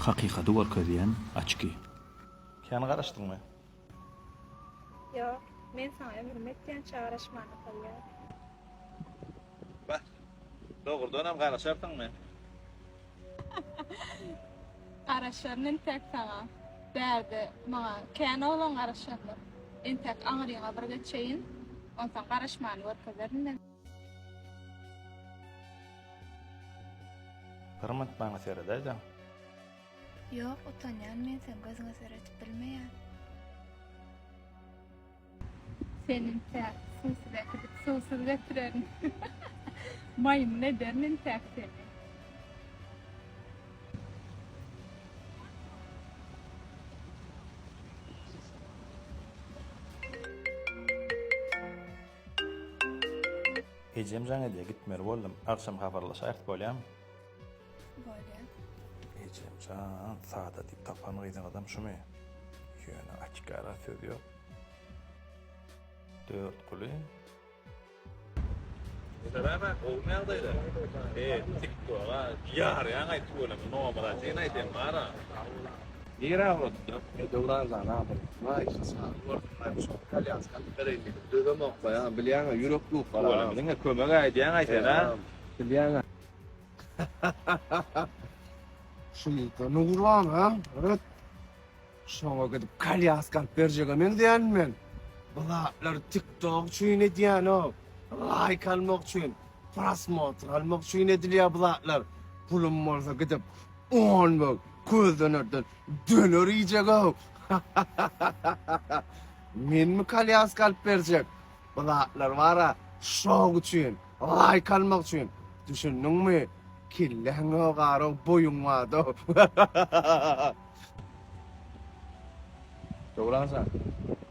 Hakykady görkezýän açki. Kän garaşdyňmy? Ýok. Men saňa ömrümi etýänçä garaşmana taýýar. Bah. Dogrudanam garaşarsyňmy? Garaşaryn entäk saňa. Bärde maňa kän oglan garaşandyr. Entäk aňryňa bir geçeýin. Onsoň garaşmany görkezerin men. Yrym atmaňa seredäýdäň. Ýok, utanýan men seň gözüňe seredip bilmeýän. Seniňkä suwsuz äkidip suwsuz getirerin. Maýmyn ederin intäk seni. Ejem jaň edýär, gitmeli boldum. Agşam habarlaşaýyk, bolýamy? Bolýar. Ejem jan, Sada diýip tapan gyzyňyzam şumy? Ýöne açyk-ara söz ýok. Dörtguly. Salam-a, gowumy ýagdaýlar? He, tik-toga ýarýaň-aý tüweleme, nomadatjyny aýt, em bar-a. Nirä ugradyda? Ýa Döwran jan adam. Waý, hasaby gördüňlämi şony, kolýaskany bereýmeli, dözemokka-a, bilýäň-ä, ýürek dukar-a. Olam diňe kömek aýdýaň-aý sen-ä. Eýýäm, bilýäň-ä. Şunuňka Nurana, ret. Şoňa gidip kolýaskany berjege meňzeýänmi men? Bu zatlary tiktok üçin edýän-ow. Laýk almak üçin, prosmotr almak üçin edilýär bu zatlar. Pulum bolsa gidip, On bag közdönerden döner iýjeg-ow! Menmi kolýaska alyp berjek? Bu zatlar bar-a şok üçin, laýk almak üçin, düşündiňmi? Kelläň ýogarow, boýuň bada-ow! Döwran jan,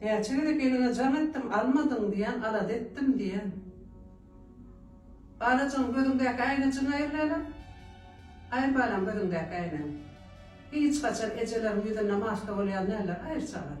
Näçe gezek eliňe jaň etdim, almadyň diýen, alada etdim diýen. Balajygym, gözüňdäki äýnejigňi aýyr lälem. Aýyr balam gözüňdäki äýnegi. Hiç haçan ejeleriň ýüzünde maska bolýan däldir, aýyr çagam.